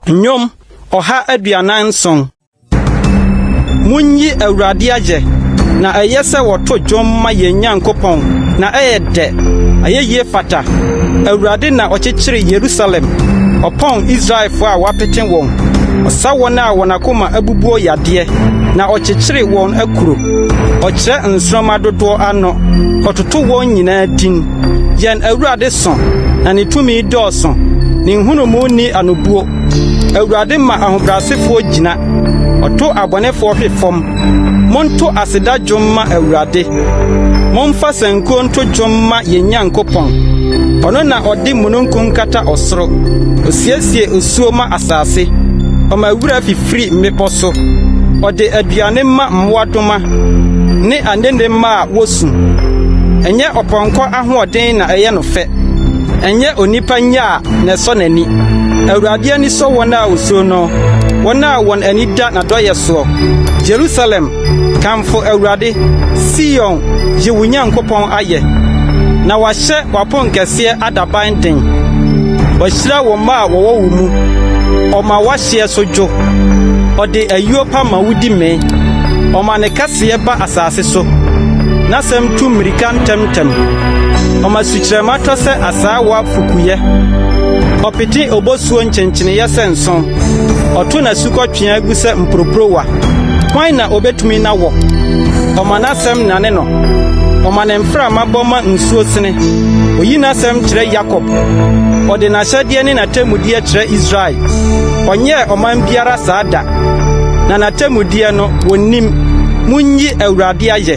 Nnwom ɔha aduanan nson. Munyi Awurade ayɛ, na ɛyɛ sɛ wɔto dwom ma yɛn Nyankopɔn, na ɛyɛ dɛ, ayɛyie fata. Awurade na ɔkyekyere Yerusalem, ɔpɔn Israelfoɔ a wɔapete wɔn. Ɔsa wɔn a wɔn akoma abubuo yadeɛ, na ɔkyekyere wɔn akuro. Ɔkyerɛ nsoromma dodoɔ ano, ɔtoto wɔn nyinaa din. Yɛn Awurade sõ, na ne tumi dɔɔso, ne nhunumu nni anobuo. Awurade ma ahobrɛasefoɔ gyina, ɔto abɔnefoɔ hwe fam. Monto aseda dwom mma Awurade, momfa sankuo nto dwom mma yɛn Nyankopɔn. Ɔno na ɔde mununkum kata ɔsoro, ɔsiesie osuo ma asase, ɔma wira fifiri mmepɔ so. Ɔde aduane ma mmoadoma ne anende mma a wosu. Ɛnyɛ ɔpɔnkɔ ahoɔden na ɛyɛ no fɛ, ɛnyɛ onipa nya na ɛsɔ n'ani. Awurade ani sɔ wɔn a wosuro no, wɔn a wɔn ani da n'adɔeyɛ soɔ. Yerusalem, kamfo Awurade, Sion, yi wo Nyankopɔn ayɛ, na wahyɛ w'aponkɛseɛ adaban den. Wahyira wo mma a wɔwɔ wo mu, ɔma teɛ so dwo. Ɔde ayuo pa ma wodi mee. Ɔma ne kɛseɛ ba asase so. N'asɛm tu mmirika ntɛmntɛm. Ɔma sukyerɛmma tɔ sɛ asaawa fukuyɛ. Ɔpete obosuo nkyenkyeneyɛ sɛ nsõ. Ɔto n'asukɔtweaa gu sɛ mporoporowa. Hwan na ɔbɛtumi na wɔ? Ɔma n'asɛm nane no. Ɔma ne mframa bɔ ma nsuo sene. Ɔyi n'asɛm kyerɛ Yakob. Ɔde n'ahyɛdeɛ ne n'atemmudeɛ kyerɛ Israel. Ɔnyɛɛ ɔman biara saa da, na n'atemmudeɛ no, wɔnnim. Monyi Awurade ayɛ!